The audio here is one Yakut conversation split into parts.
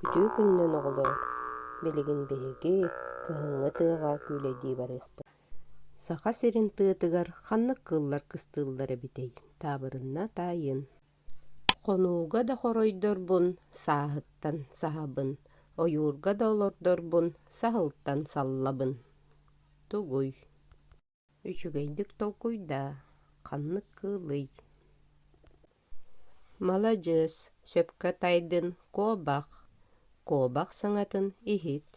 Үтүө күнүнэн, оҕолоор! Билигин биһиги кыһыҥҥы тыаҕа күүлэйдии барыахпыт. Саха сирин тыатыгар ханнык кыллар кыстыыллар эбитэй? Таабырынна таайын. Хонууга да хоройдорбун, сааһыттан саһабын. Ойуурга да олордорбун, саһылтан саллабын. Тугуй? Үчүгэйдик толкуйдаа, ханнык кыылый? Маладьыас, сөпкө тайдын, куобах. Куобах саҥатын иһит.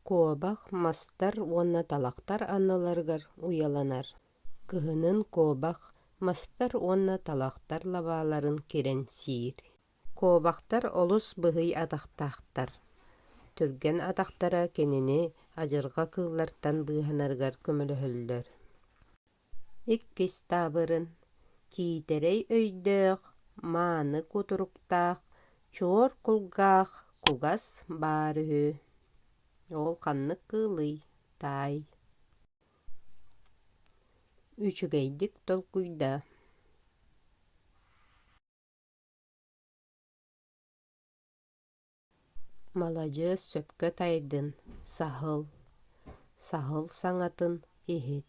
Куобах мастар уонна талахтар анналарыгар уйаланар. Кыһынын куобах, мастар уонна талахтар лабааларын кирэн сиир. Куобахтар олус быһый атахтаахтар. Түргэн атахтара кинини адьырҕа кыыллартан быыһанарыгар көмөлөһөллөр. Иккис таабырын киитэрэй өйдөөх, мааны кутуруктаах, чуор кулгаах кугас баар үһү. Ол ханнык кыылый, таай? Үчүгэйдик толкуйда. Маладьыас сөпкө тайдын, саһыл, саһыл саҥатын иһит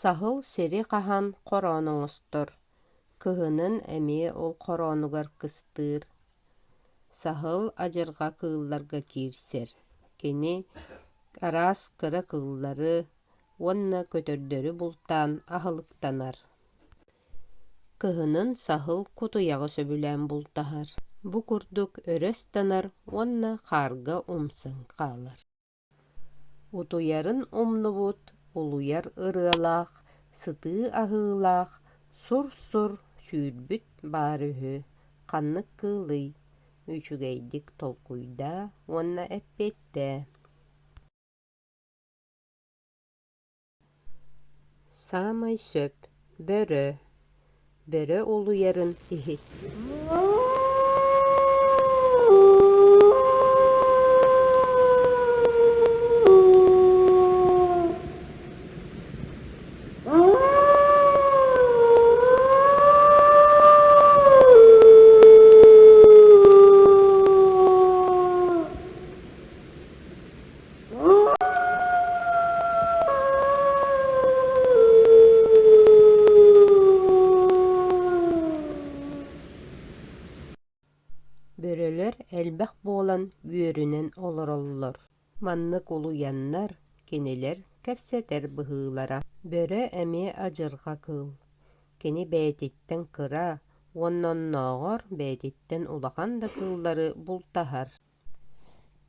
Саһыл сири хаһан хороон оҥостор, кыһынын эмиэ ол хороонугар кыстыыр. Саһыл адьырҕа кыылларга киирсэр, кини араас кыра кыыллары уонна көтөрдөрү бултаан аһылыктанар. Кыһынын саһыл кутуйаҕы сөбүлээн бултаһар, бу курдук өрө ыстанар уонна хаарга умсан хаалар утуйарын умнубут улуйар ырыалаах сытыы аһыылаах сур-сур сүүрбүт баар үһү ханнык кыылый үчүгэйдик толкуйдаа уонна эппиэттээ Саамай сөп бөрө бөрө улуйарын иһит Бөрөлөр элбэх буолан бүөрүнэн олороллор. Маннык улуйаннар кинилэр кэпсэтэр быһыылара. Бөрө эмиэ адьырҕа кыыл. Кини бэйэтиттэн кыра, онноннооҕор бэйэтиттэн улахан да кыыллары бултаһар.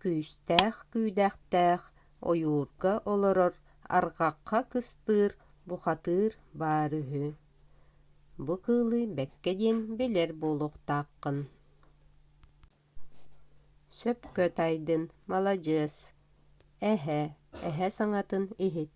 күүстээх күүдэхтээх ойуурга олорор арҕахха кыстыыр бухатыыр баар үһү бу кыылы бэккэ диэн билэр буолуохтааххын сөпкө тайдын маладьыас эһэ эһэ саҥатын иһит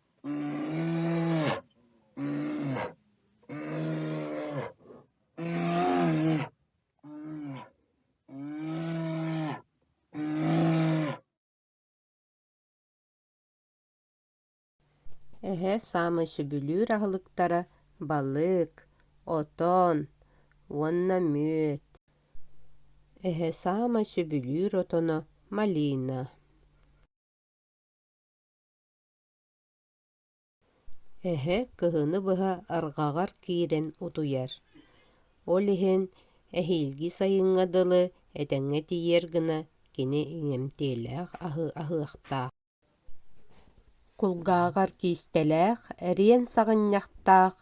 Эһэ саамай сөбүлүүр аһылыктара балык, отон уонна мүөт. Эһэ саамай сөбүлүүр отоно малина. Эһэ кыһыны быһа арҕаҕар киирэн утуйар. Ол иһин эһиилги сайыҥҥа дылы этэҥҥэ тиийэр гына кини иҥэмтиэлээх аһы аһыахтаах. Кулгааҕар киистэлээх эриэн саҕынньахтаах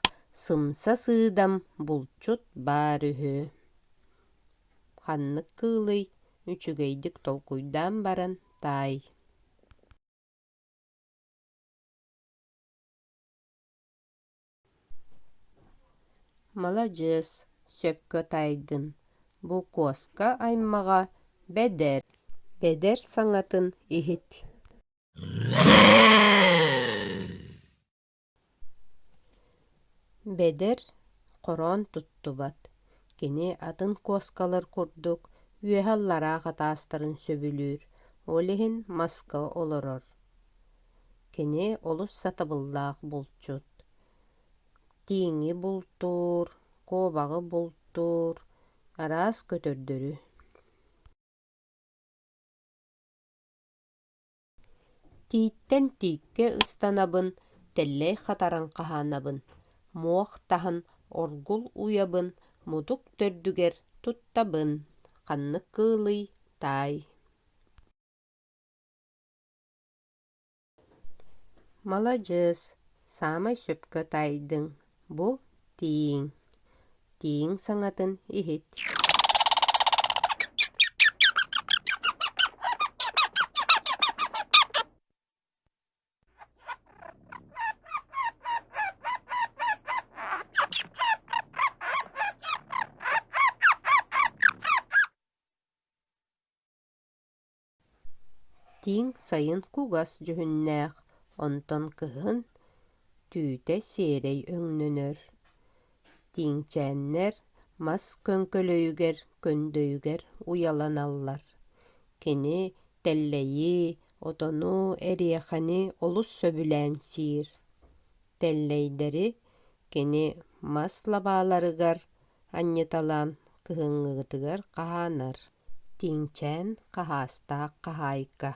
сымса сыыдам булчут баар үһү. Ханнык кыылый үчүгэйдик толкуйдаан баран таай Маладьыас, сөпкө тайдын, букуоска аймаҕа бэдэр, бэдэр саҥатын иһит Бэдэр хороон туттубат, кини атын куоскалар курдук үөһэ-аллараа хатаастарын сөбүлүүр, ол иһин маска олорор. Кини олус сатабыллаах булчут. Тииҥи бултуур, куобаҕы бултуур, араас көтөрдөрү Тииттэн тииккэ ыстанабын, тэллэй хатаран хаһаанабын, муох таһан оргул уйабын, мутук төрдүгэр туттабын, ханнык кыылый, таай Маладьыас, саамай сөпкө таайдыҥ Бу тииҥ, тииҥ саҥатын иһит. Тииҥ сайын кугас дьүһүннээх, онтон кыһын түүтэ сиэрэй өҥнөнөр. Тииҥчээннэр мас көҥкөлөйүгэр көндөйүгэр уйаланаллар. Кини тэллэйи, отону, эриэхэни олус сөбүлээн сиир. Тэллэйдэри кини мас лабааларыгар анньыталаан кыһыҥҥытыгар хаһаанар. Тиҥчээн хаһаастаах хаһаайка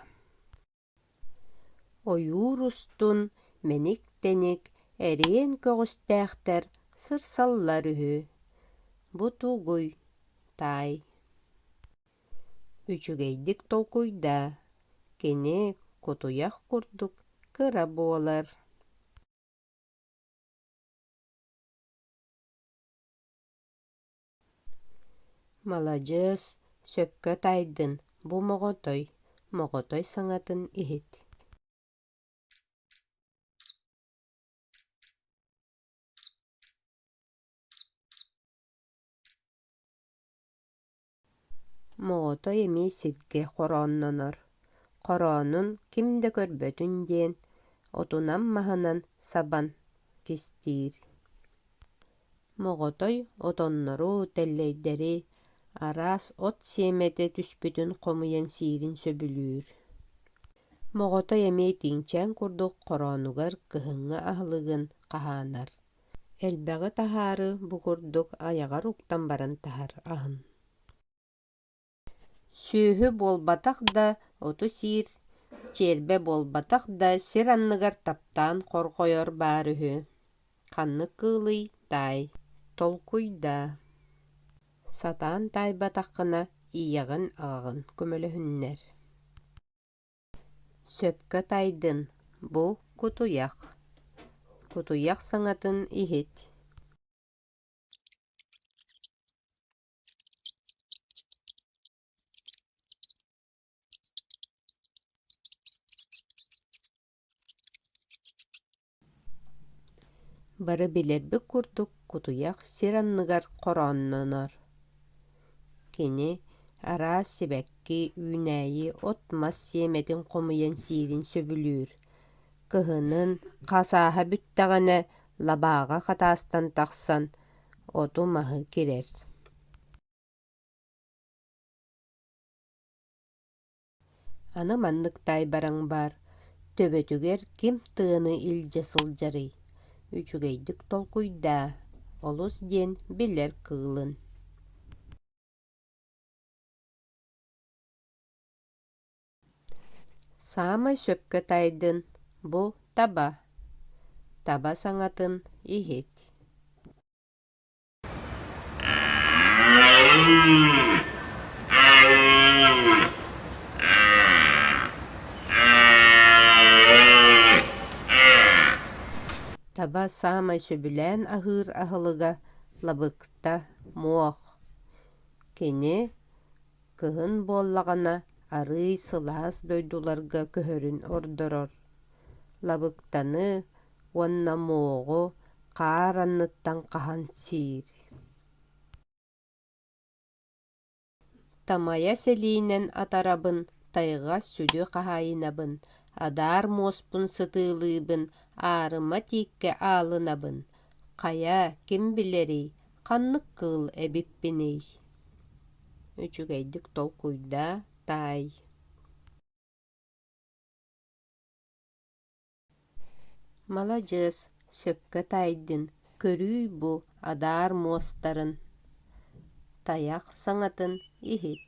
Ойуур устун мэник-тэник эриэн көҕүстээхтэр сырсаллар үһү. Бу тугуй? Таай Үчүгэйдик толкуйда. Кини кутуйах курдук кыра буолар. Маладьыас, сөпкө тайдын бу моҕотой, моҕотой саҥатын иһит Моотой эмиэ сиргэ хорооннонор, хороонун ким да көрбөтүн диэн отунан-маһынан сабан кистиир. Моҕотой отоннору, тэллэйдэри араас от сиэмэтэ түспүтүн хомуйан сиирин сөбүлүүр. Моҕотой эмиэ итиҥчээн курдук хороонугар кыһыҥҥы аһылыгын хаһаанар. элбэҕи таһаары бу курдук айаҕар уктан баран таһар аһын сүөһү буолбатах да оту сиир чиэрбэ буолбатах да сир анныгар таптаан хорҕойор баар үһү ханнык кыылый таай толкуйдаа сатаан таайбатаххына ийэҕин аҕаҕын көмөлөһүннэр Сөпкө тайдын бу кутуйах Кутуйах саҥатын иһит Бары билэрбит курдук кутуйах сир анныгар хорооннонор. Кини араас сибэкки, үүнээйи, от-мас сиэмэтин хомуйан сиирин сөбүлүүр. Кыһынын хас ааһа бүттэҕинэ лабааҕа хатаастан тахсан оту-маһы кирэр Аны маннык таайбараҥ баар, төбөтүгэр ким тыаны илдьэ сылдьарый? Үчүгэйдик толкуйдаа, олус диэн билэр кыылын Саамай сөпкө таайдын бу таба. Таба саҥатын иһит. Таба саамай сөбүлээн аһыыр аһылыга лабыкта, муох. Кини кыһын буоллаҕына арыый сылаас дойдуларга көһөрүн ордорор. Лабыктаны уонна мооҕу хаар анныттан хаһан сиир тамайа сэлиинэн атарабын тайҕа сүдү хаһаайынабын адаар муоспун сытыылыыбын аарыма тииккэ аалынабын хайа ким билэрий ханнык кыыл эбиппиний үчүгэйдик толкуйдаа таай маладьыас сөпкө тайдын көрүүй бу адаар муостарын тайах саҥатын иһит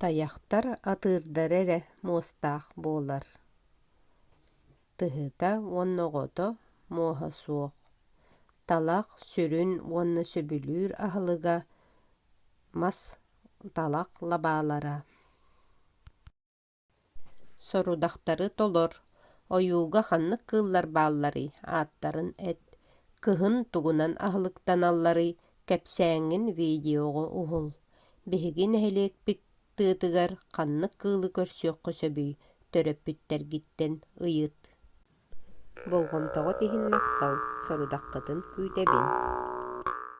Тайахтар атыырдара эрэ муостаах буолар. Тыһыта уонна оҕото муоһа суох. Талах сүрүн уонна сөбүлүүр аһылыга мас, талах лабаалара. Сорудахтары толор, ойууга ханнык кыыллар баалларый, ааттарын эт, кыһын тугунан аһылыктаналларый, кэпсээҥҥин видеоҕа уһул. Биһиги нэһилиэкпит тыатыгар ханнык кыылы көрсүөххэ сөбүй, төрөппүттэргиттэн ыйыт. Болҕомтоҕут иһин махтал, сорудаххытын күүтэбин